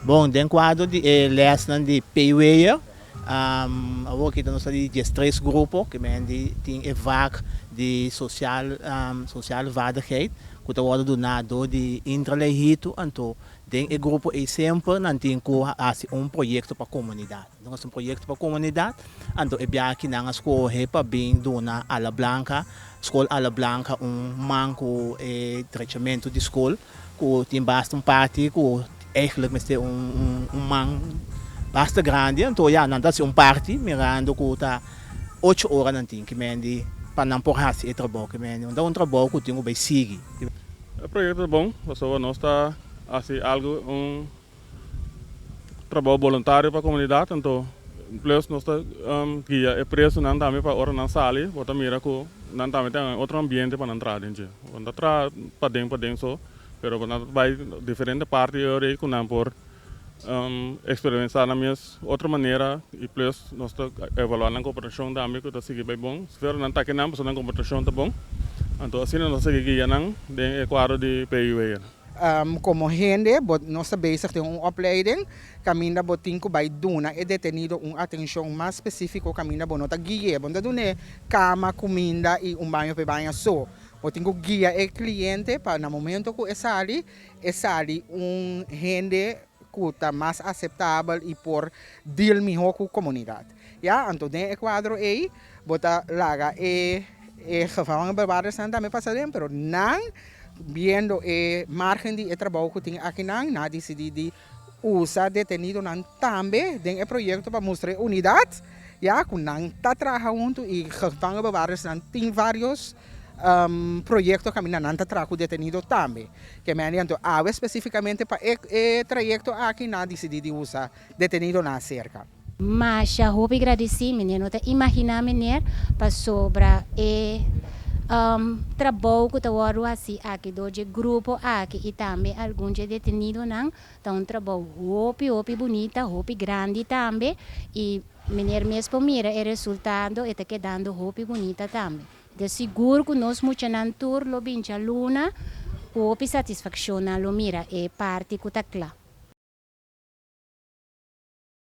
Bon, den kuadro di e lèsnan di Peiweyer, awor kita nos ta di dies tres grupo ku men di tin e vak di sosial sosial vaardigheid ku ta wòrdu duná dor di Intra Leihitu. Anto den e grupo ei semper nan tin ku hasi un proyekto pa komunidat. Nos hasi un proyekto pa komunidat, anto e biaha kinan a skohe pa bin duna Ala Blanka, skol Ala Blanka un man ku e trechamentu di skol, ku tin basta un parti ku eigentlik mester un man basta grandi. Anto ya, nan ta hasi un parti mirando ku ta ocho ora nan tin ki mendi pa nan por hasi e trabou ki mendi, unda un trabou ku tin ku bai sigui. E proyekto ta bon pasobra nos ta hasi algu un. Trabao boluntario pa komunidat, anto plus nos ta guia e presonan tambe pa ora nan sali bo ta mira ku nan tambe ta den otro ambiente pa nan traha den dje. Bo no ta traha paden paden so, pero bo ta bai diferente parti di ora ei ku nan por eksperimensá nan mes otro manera i plus nos ta evaluá nan komportashon tambe ku ta sigui bai bon. Sifer nan ta ke nan pasá nan komportashon ta bon, anto asina nos ta sigui guia nan den e kuadro di PUA. Komo hende bo no sta bezig den un opleiding kaminda bo tin ku bai duna e detenido un atenshon mas spesífiko kaminda bo no ta gui'é. Bo no ta dun'é kama, kuminda i un baño p'e baña so. Bo tin ku guia e kliente pa na momentu ku e sali, e sali un hende. cu ta mas aceptabel y por deal miho cu comunidad. Ya, anto den e cuadro ey bo ta laga e gevangel y bewaarders nan tambe pasa den, pero nan biendo e margen di e trabao cu tin akinan, nan a dicidi di usa detenidonan tambe den e proyecto pa mustra e unidad, ya, cu nan ta traha hunto y gevangel y bewaarders nan tin varios. proyecto caminda nan ta traha cu detenido tambe. Kemeani anto awe specificamente pa e trayecto aki nan a dicidi di usa detenido nan cerca. Masha hopi gradici meneer no ta imagina meneer pasobra e trabou cu ta wordo haci aki door dje grupo aki y tambe algun dje detenido nan ta un trabou hopi hopi bunita hopi grandi tambe y Meneer mes por mira e resultado e ta kedando hopi bunita tambe. De sigur cu nos muchanan tur lo bincha luna cu hopi satisfaccion nan lo mira e parti cu ta cla.